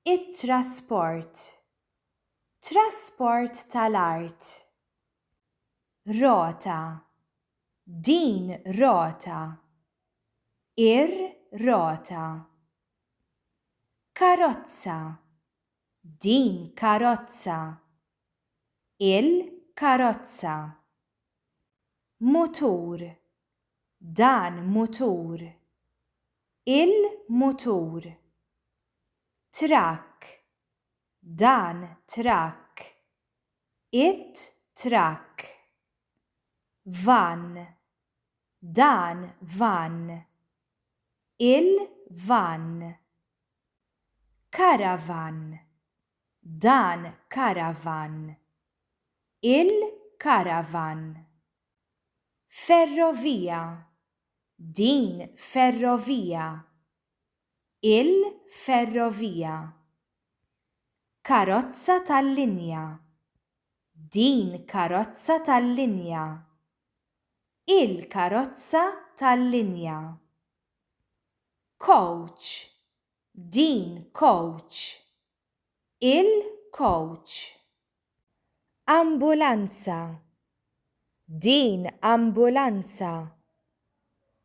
it-trasport, trasport tal-art, rota, din rota, ir-rota, karozza, din karozza, il-karozza, mutur, Dan mutur. Il-mutur. Trakk. Dan trakk. It-trakk. Vann. Dan vann. Il-vann. Karavann. Dan karavann. Il-karavann. Ferrovija, din ferrovija. Il-ferrovija. Karozza tal-linja, din karozza tal-linja. Il-karozza tal-linja. Coach, din coach. Il-kowċ. Ambulanza. Din ambulanza.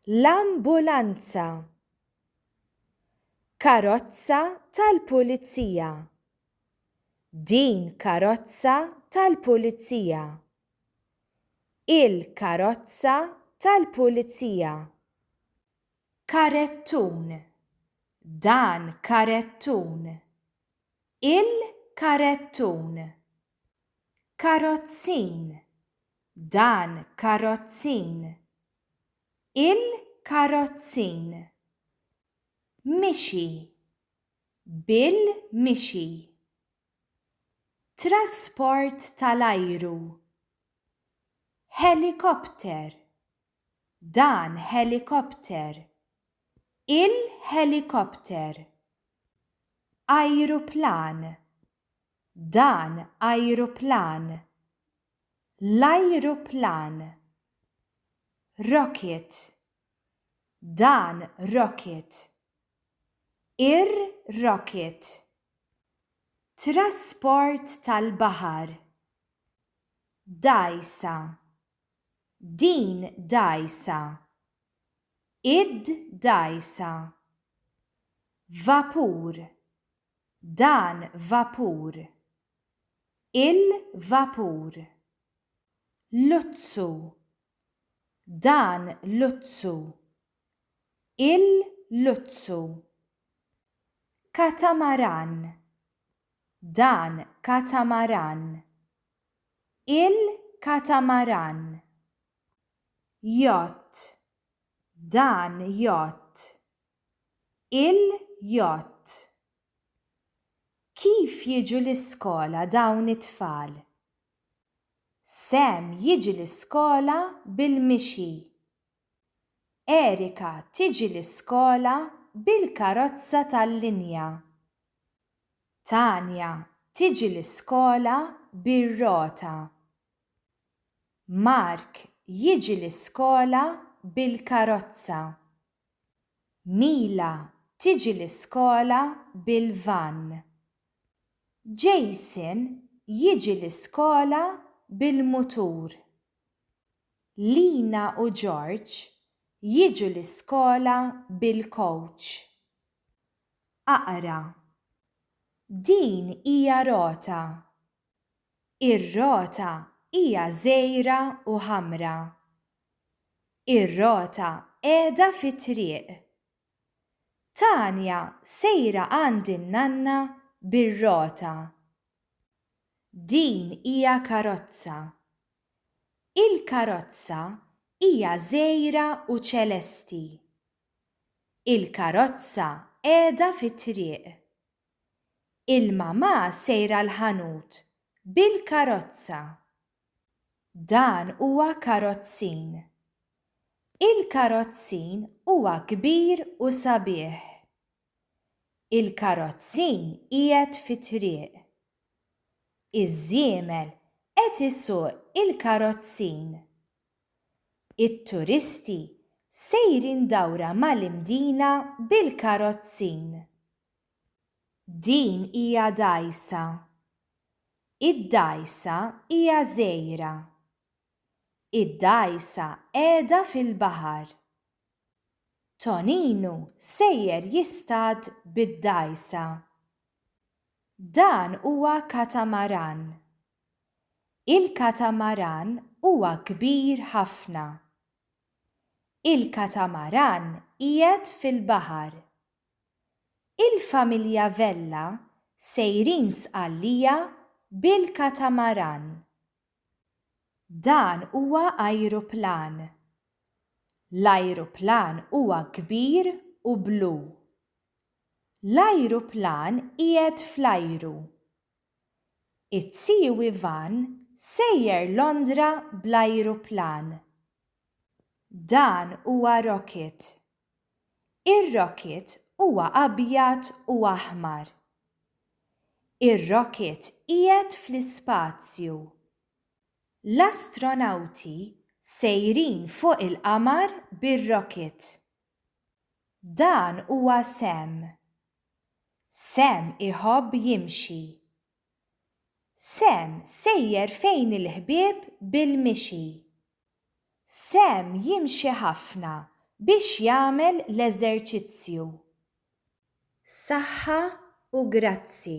L-ambulanza. Karozza tal-pulizija. Din karozza tal-pulizija. Il-karozza tal-pulizija. Karettun. Dan karettun. Il-karettun. Karozzin. Dan karozzin. Il-karozzin. Mixi. Bil-mixi. Trasport tal-ajru. Ħelikopter. Dan ħelikopter. Il-ħelikopter. Ajruplan. Dan ajruplan. L-ajruplan. Rocket. Dan rocket. Ir-rocket. Trasport tal-baħar. Dgħajsa. Din dgħajsa. Id dgħajsa. Vapur. Dan vapur. Il vapur. Luzzu. Dan luzzu. Il luzzu. Katamaran. Dan katamaran. Il-katamaran, yacht, dan yacht, il-yacht. Kif jiġu l-iskola dawn it-tfal? Sam jiġi l-iskola bil-mixi. Erika tiġi l-iskola bil-karozza tal-linja. Tania tiġi l-iskola bir-rota. Mark jiġi l-iskola bil-karozza. Mila tiġi l-iskola bil-vann. Jason jiġi l-iskola bil-mutur. Lina u George jiġu l-iskola bil-kowċ. Aqra. Din hija rota. Ir-rota hija żgħira u ħamra. Ir-rota qiegħda fit-triq. Tania sejra għand in-nanna bir-rota Din hija karozza. Il-karozza hija żgħira u ċelesti. Il-karozza qiegħda fit-triq. Il-mamà sejra l-ħanut bil-karozza. Dan huwa karozzin. Il-karozzin huwa kbir u sabiħ. Il-karozzin qiegħed fit-triq. Iż-żiemel qed isuq il-karozzin. It-turisti sejrin dawra mal-imdina bil-karozzin. Din hija dgħajsa. Id-dgħajsa hija żgħira. Id-dgħajsa qiegħda fil-baħar. Toninu sejjer jistad bid-dgħajsa. Dan huwa katamaran. Il-katamaran huwa kbir ħafna. Il-katamaran qiegħed fil-baħar. Il-familja Vella sejrin Sqallija bil-katamaran. Dan huwa ajruplan. L-ajruplan huwa kbir u blu. L-ajruplan qiegħed fl-ajru. It-Tziu Ivan sejjer Londra bl-ajruplan. Dan huwa rocket. Ir-rocket huwa abjad u aħmar. Ir-rocket qiegħed fl-ispazju. L-astronawti sejrin fuq il-qamar bir-rocket. Dan huwa Sam. Sam iħobb jimxi. Sam sejjer fejn il-ħbieb bil-mixi. Sam jimxi ħafna biex jagħmel l-eżerċizzju. Saħħa u grazzi.